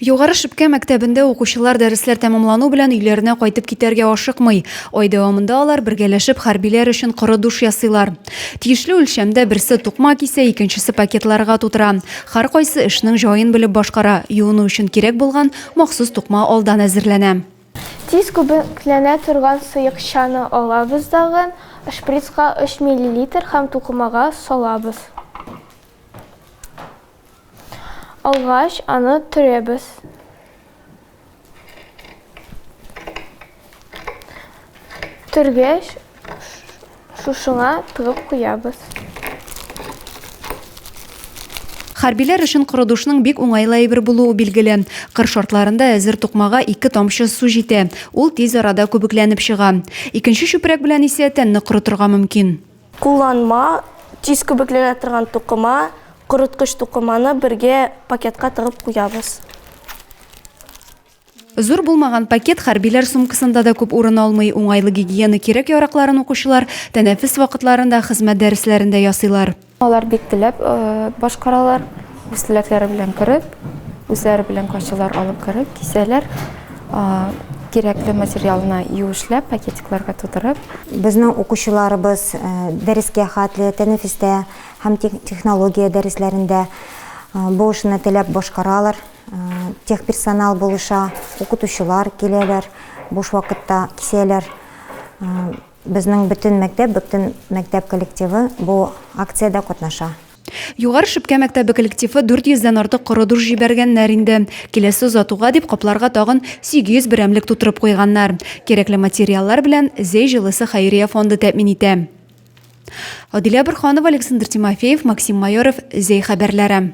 Югары Шепкә мәктәбендә укучылар дәресләр тәмамлану белән өйләренә кайтып китәргә ашыкмый. Ай дәвамында алар бергәләшеп хәрбиләр өчен коры душ ясыйлар. Тиешле үлчәмдә берсе тукма кисә, икенчесе пакетларга тутыра. Һәркайсы эшнең җаен белеп башкара, юыну өчен кирәк булган махсус тукма алдан әзерләнә. Тиз күбекләнә торган сыекчаны алабыз дагын, шприцка өч миллилитр һәм тукымага салабыз. Алгач, аны төрәбез. Төргәч, шушыңа тыгып куябыз. Хәрбиләр өчен корыдушның бик уңайлы әйбер булуы билгеле. Кыр шартларында әзер тукмага ике тамчы су җитә, ул тиз арада күбекләнеп чыга. Икенче чүпрәк белән исә тәнне корытырга мөмкин. Кулланма, тиз күбекленә торган тукыма, корыткыч тукыманы бергә пакетка тыгып куябыз. Зур булмаган пакет хәрбиләр сумкасында да күп урын алмый, уңайлы гигиена кирәк-яракларын укучылар тәнәфес вакытларында, хезмәт дәресләрендә ясыйлар. Алар бик теләп башкаралар. Үз теләкләре белән кереп, үзләре белән кайчылар алып кереп, кисәләр, кирәкле материалны юешләп, пакетикларга тутырып. Безнең укучыларыбыз дәрескә хәтле, тәнәфестә һәм технология дәресләрендә бу эшне теләп башкаралар. Техперсонал булыша, укытучылар киләләр, буш вакытта кисәләр. Безнең бөтен мәктәп, бөтен мәктәп коллективы бу акциядә катнаша. Югары Шепкә мәктәбе коллективы 400 дән артык коры душ җибәргәннәр инде. Киләсе озатуга дип капларга тагын 800 берәмлек тутырып куйганнар. Кирәкле материаллар белән Зәй җылысы хәйрия фонды тәэмин итә. Адилә Борханова, Александр Тимофеев, Максим Майоров, Зәй хәбәрләре.